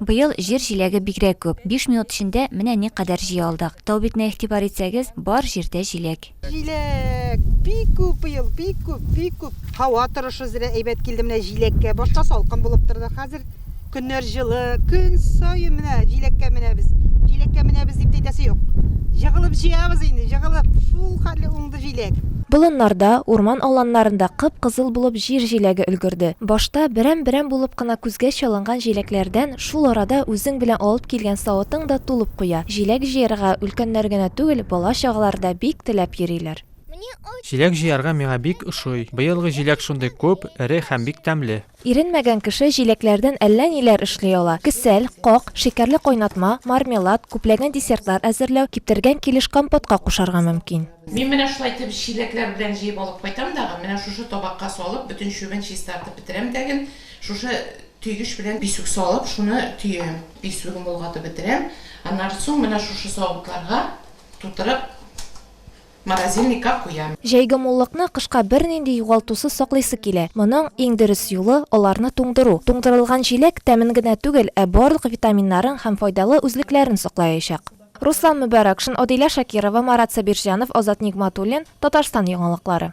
Быел җир җиләге бигрәк күп. Биш минут эчендә менә никадәр җыя алдык. Тау битенә игътибар итсәгез, бар җирдә җиләк. Җиләк бик күп быел, бик күп, бик күп. Һава торышы зрә әйбәт килде менә җиләккә. Башта салкын булып торды, хәзер көннәр җылы. Көн саен менә җиләккә менәбез. Җиләккә менәбез дип әйтәсе юк. Җыгылып җыябыз инде, җыгылып. Шул хәтле уңды. җиләк. Болыннарда, урман аланнарында кып-кызыл булып җир җиләге өлгерде. Башта берәм-берәм булып кына күзгә чалынган җиләкләрдән шул арада үзең белән алып килгән савытың да тулып куя. Җиләк җыярга өлкәннәр генә түгел, бала-чагалар да бик теләп йөриләр. Җиләк җыярга миңа бик ошый. Быелгы җиләк шундый күп, эре һәм бик тәмле. Иренмәгән кеше җиләкләрдән әллә ниләр эшли ала, кесәл, как, шикәрле кайнатма, мармелад, күпләгән десертлар әзерләү, киптергән килеш компотка кушарга мөмкин. Мин менә шулай итеп чиләкләр белән җыеп алып кайтам дагы, менә шушы табакка салып, бөтен чүбен чистартып бетерәм дәген, шушы төйгеч белән писүк салып, шуны төям, писүген болгатып бетерәм, аннары соң менә шушы савытларга тутырып. Морозильникка куям. Җәйге муллыкны кышка бернинди югалтусыз саклыйсы килә. Моның иң дөрес юлы, аларны туңдыру. Туңдырылган җиләк тәмен генә түгел, ә барлык витаминнарын һәм файдалы үзлекләрен саклаячак. Руслан Мөбәрәкшин, Адилә Шакирова, Марат Сабирҗанов, Азат Нигъматуллин, Татарстан яңалыклары.